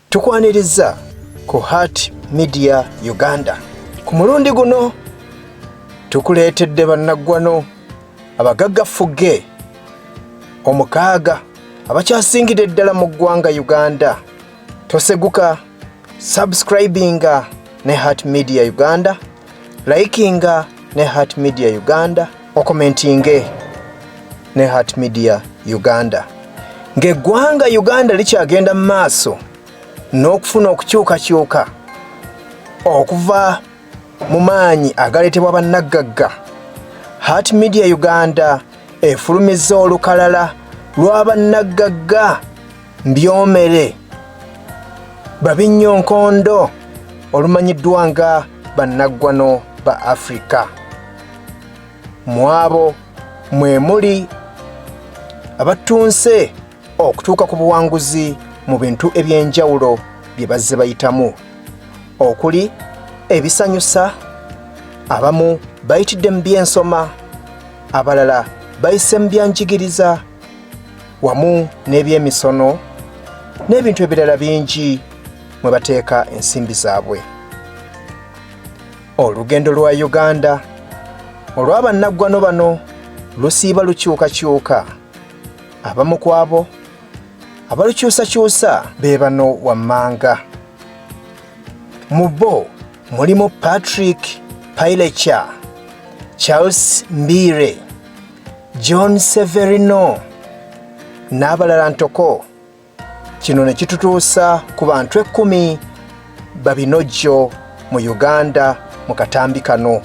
Tukwanirizza ku Heart Media Uganda. Ku mulundi guno tukuleetedde bannaggwano abagagga fugge omukaaga abakyasingidde ddala mu ggwanga Uganda. Toseguka subscribinga ne Heart Media Uganda, likinga ne Heart Media Uganda. okomentinge ne Heart Media Uganda ng'eggwanga Uganda likyagenda mu maaso n'okufuna okukyukakyuka okuva mu maanyi agaleetebwa bannaggagga Heart Media Uganda efulumizza olukalala lwa bannaggagga Mbyomere Babinnyo Nkondo olumanyiddwa nga bannaggwano ba Afrika. Mwabo mwe muli abattunse okutuuka ku buwanguzi mu bintu eby'enjawulo bye bazze bayitamu okuli ebisanyusa abamu bayitidde mu by'ensoma abalala bayise mu byanjigiriza wamu n'ebyemisono n'ebintu ebirala bingi mwe bateeka ensimbi zaabwe olugendo lwa uganda olw'abannaggwano bano lusiiba lukyukakyuka abamu ku abo abalukyusakyusa be bano wammanga mu bo mulimu patrick paileca charles mbiire John Severino n'abalala ntoko kino ne kitutuusa ku bantu ekkumi babinojjo mu Uganda mu katambi kano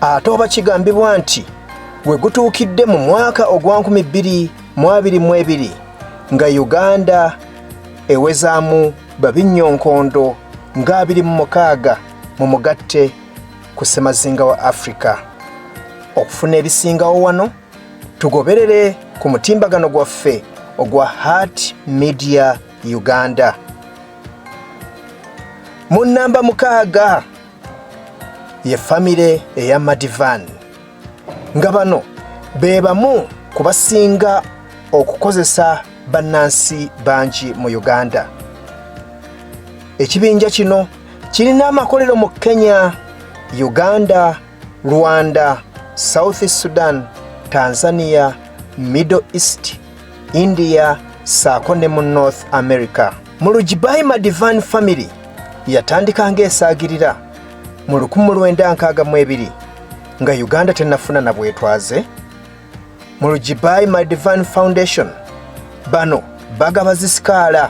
ate oba kigambibwa nti we gutuukidde mu mwaka ogwa 2022 nga Uganda ewezaamu babinnyo nkondo nga 26 mu mugatte ku ssemazinga wa africa okufuna ebisingawo wano tugoberere ku mutimbagano gwaffe ogwa heart media uganda mu nnamba mukaaga ye famire eya madivan nga bano be bamu ku basinga okukozesa bannansi bangi mu uganda ekibinja kino kirina amakolero mu kenya uganda rwanda south sudan tanzania middle east india saako ne mu north america mu lugibaima divan family yatandika ng'esaagirira mu lukumu lwenda nkaaga mu ebiri nga uganda tenafuna na bwetwaze mu lujibayi my divine foundation bano bagaba zisikaala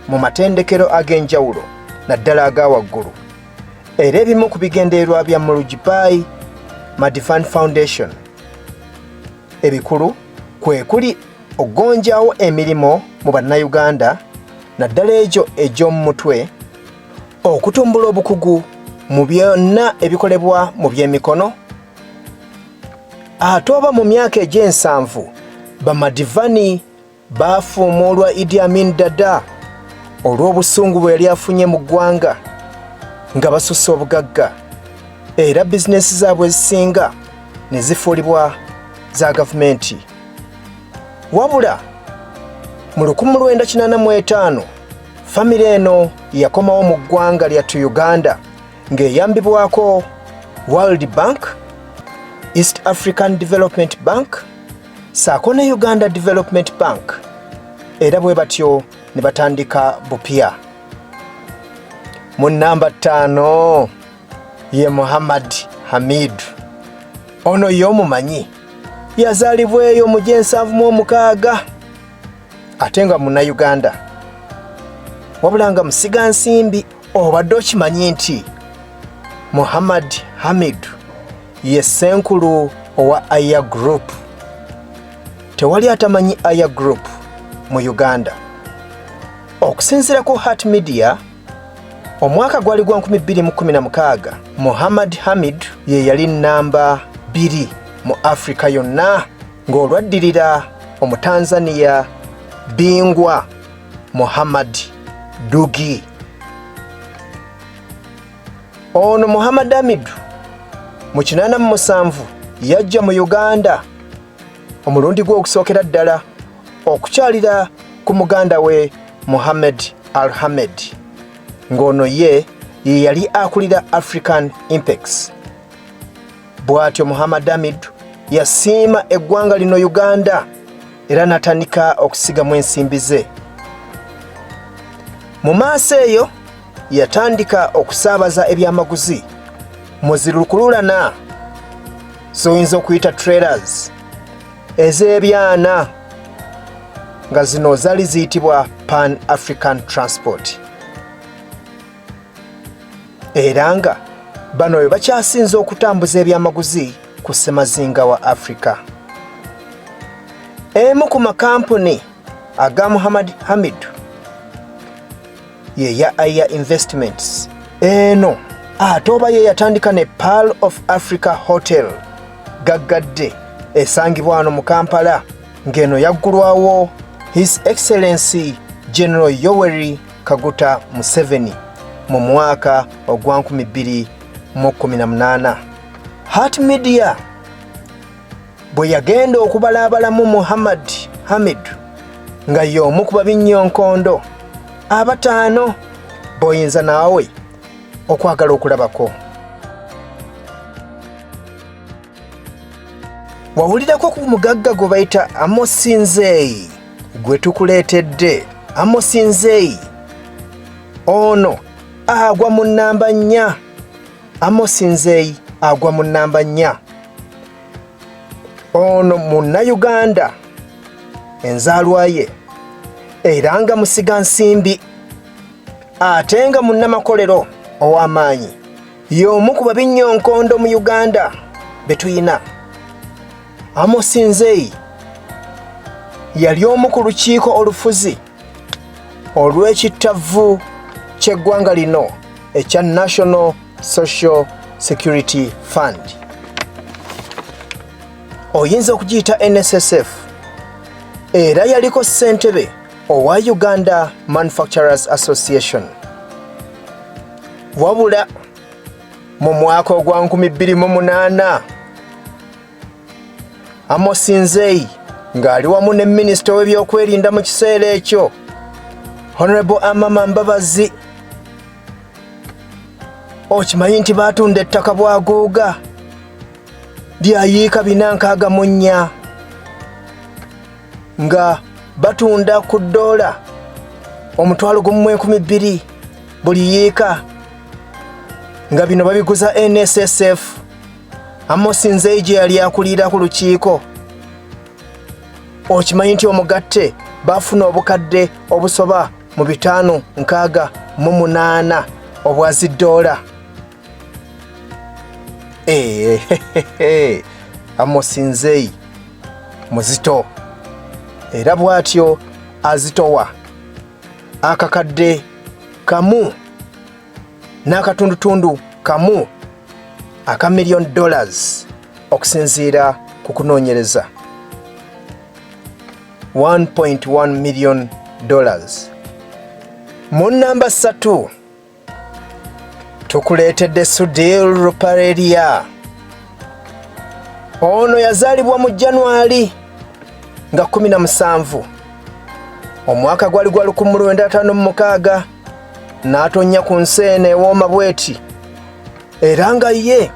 mu matendekero ag'enjawulo naddala aga waggulu era ebimu ku bigendererwa bya mu lujibayi my divine foundation ebikulu kwe kuli okugonjawo emirimu mu bannayuganda naddala egyo egy'omu mutwe okutumbula obukugu mu byonna ebikolebwa mu by'emikono ate oba mu myaka egy'ensanvu bamadivani baafuumuulwa idi amin dada olw'obusungu bwe yali afunye mu ggwanga nga basusse obugagga era bizinesi zaabwe ezisinga ne zifuulibwa za gavumenti wabula mu 1985 Famire eno yakomawo mu ggwanga lyattu Uganda ng'eyambibwako World Bank, East African Development Bank saako ne Uganda Development Bank era bwe batyo ne batandika bupya. Mu nnamba ttaano ye Muhammad Hamid. Ono y'omumanyi yazaalibwa eyo mu gy'ensanvu mu omukaaga ate nga munayuganda wabula nga musiga nsimbi obadde okimanyi nti muhammad hamid ye senkulu owa aya group tewali atamanyi aya group mu uganda okusinzira ku heart media Omwaka gwali gwa 2016 Muhammad Hamid ye yali nnamba bbiri mu Afirika yonna ng'olwaddirira Omutanzaniya Bingwa Muhammad Dugi. Ono Muhammad Hamidu mu kinaana mu musanvu yajja mu Uganda omulundi gw'okusookera ddala okukyalira ku muganda we Mohamed Alhamed ng'ono ye ye yali akulira African Impex. Bw'atyo Muhammad Amid yasiima eggwanga lino Uganda era natandika okusigamu ensimbi ze. Mu maaso eyo yatandika okusaabaza ebyamaguzi mu zirukululana z'oyinza okuyita trailers. ez'ebyana nga zino zali ziyitibwa pan african transport era nga bano bwe bakyasinze okutambuza ebyamaguzi ku ssemazinga wa afrika emu ku makampuni aga muhammad hamidu ye ya Aya Investments. Eno ate oba ye yatandika ne Pearl of Africa Hotel gaggadde esangibwa wano mu Kampala ng'eno yaggulwawo His Excellency General Yoweri Kaguta Museveni mu mwaka ogwa 2018. Heart Media bwe yagenda okubalaabalamu Muhammad Hamid nga y'omu ku babinnyoonkondo abataano b'oyinza naawe okwagala okulabako. Wawulirako ku mugagga gwe bayita Amosi Nzeyi gwe tukuleetedde. Amosi Nzeyi ono agwa mu nnamba nnya. Amos Nzeyi agwa mu nnamba nnya. Ono munnayuganda enzaalwa ye era nga musiga nsimbi ate nga munnamakolero ow'amaanyi y'omu ku babinnyoonkondo mu Uganda be tulina. Amos Nzeyi yali omu ku lukiiko olufuzi olw'ekittavvu ky'eggwanga lino ekya National Social Security Fund. Oyinza okugiyita NSSF era yaliko ssentebe owa Uganda Manufacturers Association. Wabula mu mwaka ogwa 2008 Amos Nzeyi ng'ali wamu ne minisita w'ebyokwerinda mu kiseera ekyo Honorable Amama Mbabazi okimanyi nti baatunda ettaka bwaguuga lyayiika bina nkaaga mu nnya nga batunda ku ddoola omutwalo gumu mu enkumi bbiri buli yiika nga bino babiguza NSSF Amosi Nzeije yali akulira ku lukiiko. Okimanyi nti omugatte baafuna obukadde obusoba mu bitaano nkaaga mu munaana obwa ziddoola. Eehe, eh, Amosi Nzei muzito era bw'atyo azitowa akakadde kamu. n'akatundutundu kamu aka million dollars okusinziira ku kunoonyereza 1.1 million dollars mu namba ssatu tukuleetedde sudil rupareria ono yazaalibwa mu januari nga 17 omwaka gwali gwa 1956 n'atonnya ku nsi eno ewooma bweti era nga ye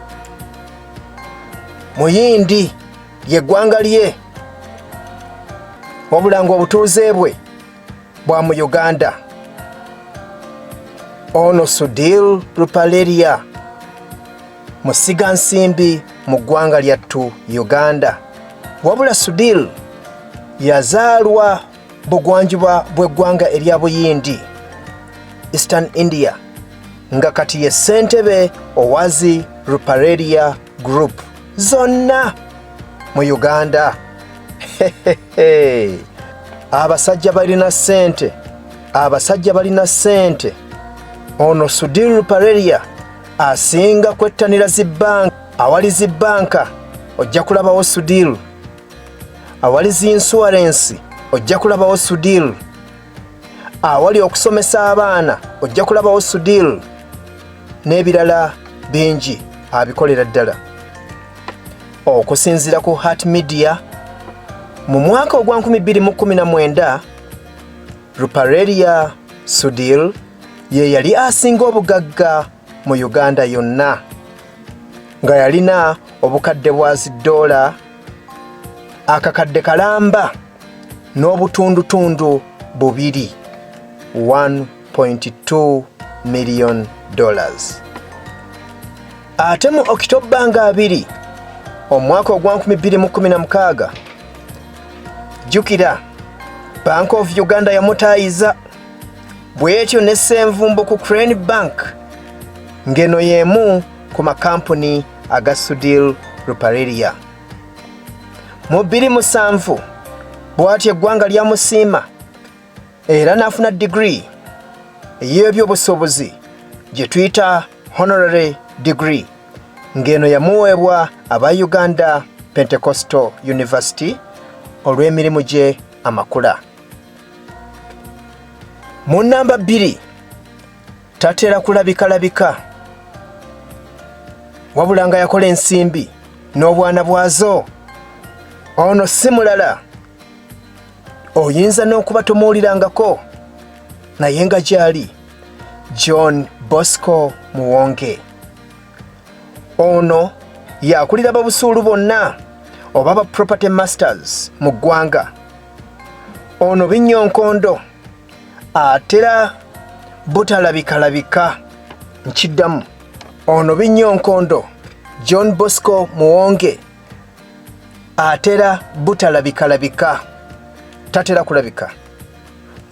muyindi yeggwanga lye wabula nga obutuuze bwe bwa mu uganda ono sudil rupaleria musiga nsimbi mu ggwanga lyattu uganda wabula sudil yazaalwa bugwanjuba bw'eggwanga erya buyindi eastern india nga kati ye ssentebe owazi rupareria group zonna mu uganda abasajja balina ssente abasajja balina ssente ono sudir rupareria asinga kwettanira zi banka awali zi banka ojja kulabawo sudiru awali zi insuwarensi ojja kulabawo sudiru awali okusomesa abaana ojja kulabawo sudiru n'ebirala bingi abikolera ddala okusinziira ku heart media mu mwaka ogwa 2019 rupareria sudil ye yali asinga obugagga mu uganda yonna nga yalina obukadde bwa ziddoola akakadde kalamba n'obutundutundu bubiri 1.2 million dollars ate mu okitobba nga abiri omwaka ogwa 2016 jjukira bank of uganda yamutaayiza bwetyo ne Ssenvumbo ku Crane Bank ng'eno y'emu ku makampuni aga Sudhir Ruparelia. Mu bbiri musanvu bw'atyo eggwanga lyamusiima era n'afuna digiri ey'ebyobusuubuzi gye tuyita honorary degree ng'eno yamuweebwa aba Uganda Pentecostal University olw'emirimu gye amakula. mu namba bbiri tatera kulabikalabika wabula nga yakola ensimbi n'obwana bwazo ono si mulala oyinza n'okuba tomuwulirangako naye nga gyali john bosco muwonge ono yakulira babusuulu bonna oba ba property masters mu ggwanga Ono binyonkondo atera butalabikalabika nkiddamu ono binyonkondo John Bosco Muwonge atera butalabikalabika tatera kulabika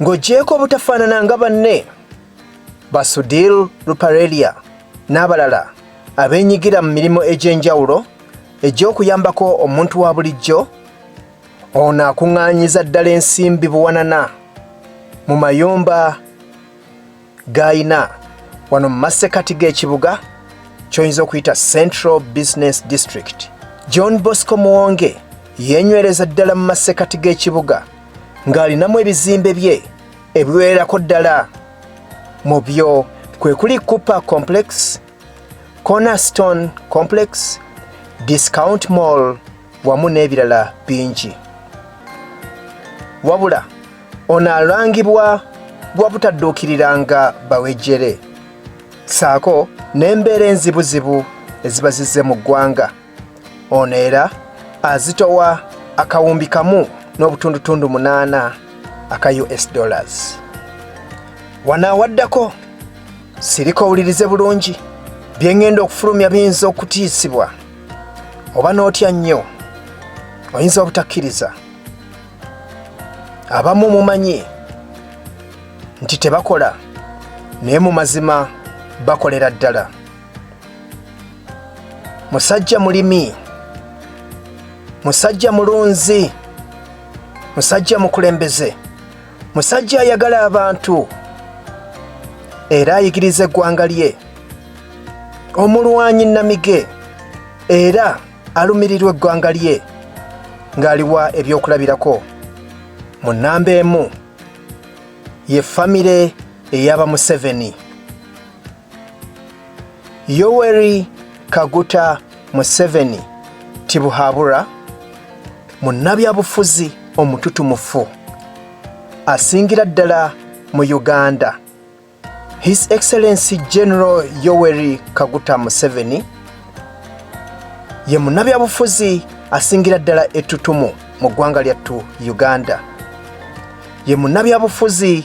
ng'ogyeko obutafaanana nga banne Basudil Ruparelia n'abalala abeenyigira mu mirimu egy'enjawulo egy'okuyambako omuntu wa bulijjo Ono akuŋŋaanyiza ddala ensimbi buwanana mu mayumba g'alina wano mu masekati g'ekibuga ky'oyinza okuyita Central Business District. John Bosco Muwonge yeenywereza ddala mu masekati g'ekibuga ng'alinamu ebizimbe bye ebiwererako ddala mu byo kwe kuli Cooper Complex Cornerstone Complex, Discount Mall wamu n'ebirala bingi. Wabula ono alangibwa gwa butadduukiriranga bawejjere ssaako n'embeera enzibuzibu eziba zizze mu ggwanga. ono era azitowa akawumbi kamu n'obutundutundu munaana aka us dollars wanaawaddako sirika owulirize bulungi bye ŋŋenda okufulumya biyinza okutiisibwa oba n'otya nnyo oyinza obutakkiriza abamu mumanyi nti tebakola naye mu mazima bakolera ddala musajja mulimi musajja mulunzi musajja mukulembeze musajja ayagala abantu era ayigiriza eggwanga lye omulwanyi namige era alumirirwa eggwanga lye ng'aliwa ebyokulabirako mu nnamba emu ye famire eyaba museveni Yoweri Kaguta Museveni Tibuhabura munnabyabufuzi omututumufu asingira ddala mu Uganda. His Excellency General Yoweri Kaguta Museveni ye munnabyabufuzi asingira ddala ettutumu mu ggwanga lyattu Uganda. Ye munnabyabufuzi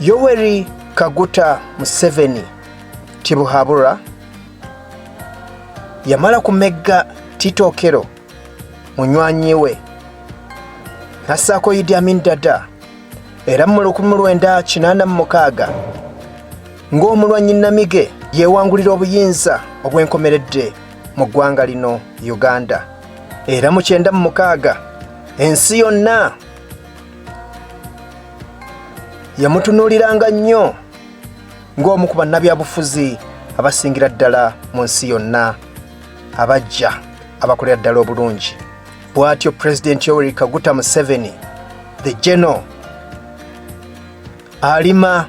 Yoweri Kaguta Museveni Tibuhabura yamala kumegga Tito Okello munywanyi we nassaako Idi Amin Dada era mu 1986 ng'omulwanyi Namige yeewangulira obuyinza obwenkomeredde mu ggwanga lino Uganda era mu kyenda mu mukaaga ensi yonna yamutunuuliranga nnyo ng'omu ku bannabyabufuzi abasingira ddala mu nsi yonna abajja abakolera ddala obulungi bw'atyo pulezidenti yoweri kaguta museveni the general alima